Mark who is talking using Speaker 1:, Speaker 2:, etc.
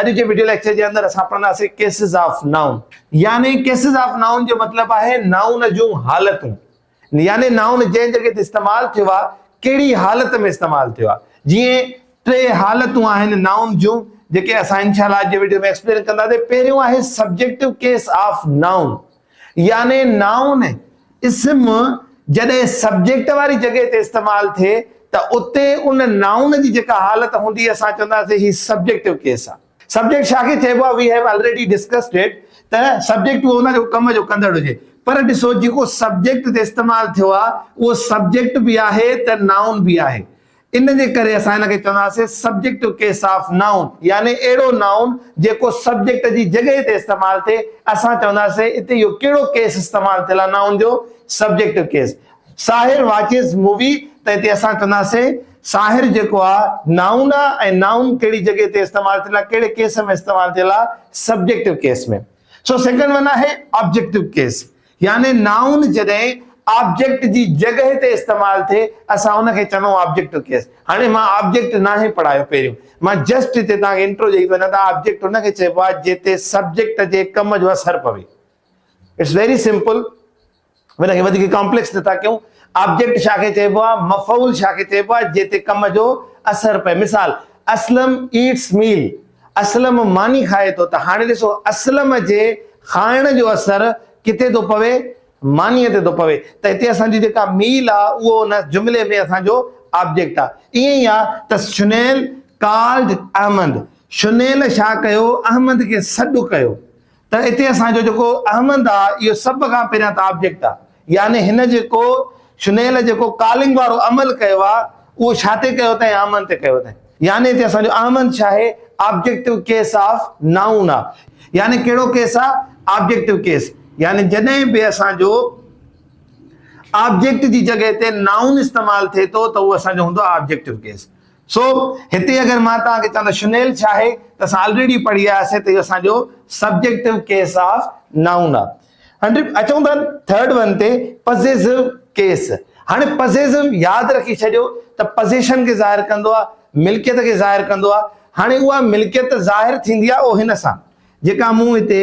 Speaker 1: اڄ جي video lecture جي اندر اسان پڙهنداسين ڪيسز آف نائون يعني ڪيسز آف نائون جو مطلب آهي نائون جون حالتون يعني نائون جنهن جڳهه تي استعمال ٿيو آهي ڪهڙي حالت ۾ استعمال ٿيو آهي جيئن ٽي حالتون آهن نائون جون جيڪي اسان انشاءالله اڄ جي وڊيو ۾ ايڪسپلين ڪنداسين پهريون آهي سبجيڪٽو ڪيس آف نائون يعني نائون اسم جڏهن سبجيڪٽ واري جڳهه تي استعمال ٿئي ته اتي ان نائون جي جيڪا حالت هوندي اسان چونداسين هي سبجيڪٽو ڪيس آ. سبجيڪٽ ڇا کي چئبو آ we have already discussed it ته سبجيڪٽ اهو هوندو آ جيڪو ڪم جو ڪندڙ هجي پر ڏسو جيڪو سبجيڪٽ تي استعمال ٿيو آ اهو سبجيڪٽ به آهي ته نائون به آهي ان جي ڪري اسان ان کي چونداسين سبجيڪٽو ڪيس آف نائون يعني اهڙو نائون جيڪو سبجيڪٽ جي جڳهه تي استعمال ٿئي اسان چونداسين اتي اهو ڪهڙو ڪيس استعمال ٿيل آهي نائون جو subjective case Sahir watches movie ته اتي اسان چونداسين ساحر جيڪو آهي نائون آهي ۽ نائون ڪهڙي جڳهه تي استعمال ٿيل آهي ڪهڙي ڪيس ۾ استعمال ٿيل آهي سبجيڪٽو ڪيس ۾ سو سيڪنڊ ون آهي آبجيڪٽو ڪيس يعني نائون جڏهن آبجيڪٽ جي جڳهه تي استعمال ٿئي اسان ان کي چڱو آبجيڪٽ ڪيس. هاڻي مان آبجيڪٽ ناهي پڙهايو پهريون مان جسٽ هتي توهان کي انٽرو ڏئي ٿو وڃان ته آبجيڪٽ ان کي چئبو آهي جنهن تي سبجيڪٽ جي ڪم جو اثر پوي. اٽس ويري سمپل ان کي وڌيڪ ڪامپليڪس نه ٿا ڪيون. آبجيڪٽ ڇا کي چئبو آهي مفعول ڇا کي چئبو آهي جنهن تي ڪم جو اثر پئي مثال اسلم ايٽس ميل. اسلم ماني کائي ٿو ته هاڻي ڏسو اسلم جي کائڻ جو اثر ڪٿي ٿو پوي؟ مانيء تي ٿو پوي ته هتي اسان جي جيڪا ميل آ اهو ان جملي ۾ اسان جو آبجيڪٽ آ. ائين ئي آ ته شنيل Called Ahmad شنيل ڇا ڪيو؟ احمد کي سڏ ڪيو. ته اتي اسان جو جيڪو احمد آ اهو سڀ کان پهريان ته آبجيڪٽ آ يعني هن جيڪو شنيل جيڪو ڪالنگ وارو عمل ڪيو آ اهو ڇا تي ڪيو اٿائين احمد تي ڪيو اٿائين يعني اتي اسان جو احمد ڇا آهي آبجيڪٽو ڪيس آف نائون آ يعني ڪهڙو ڪيس آ آبجيڪٽو ڪيس يعني جڏهن به اسان جو آبجيڪٽ جي جڳهه تي نائون استعمال ٿئي ٿو ته اهو اسان جو هوندو آ آبجيڪٽو ڪيس سو هتي اگر مان توهان کي چوان ته شنيل ڇا آهي ته اسان آلريڊي پڙهي آيا سين ته اهو اسان جو سبجيڪٽو ڪيس آف نائون آهي. هن اچون ٿا ٿرڊ ون تي پزيسو ڪيس. هاڻي پزيسو ياد رکي ڇڏيو ته پزيشن کي ظاهر ڪندو آهي، ملڪيت کي ظاهر ڪندو آهي. هاڻي اها ملڪيت ظاهر ٿيندي آهي او هن سان جيڪا مون هتي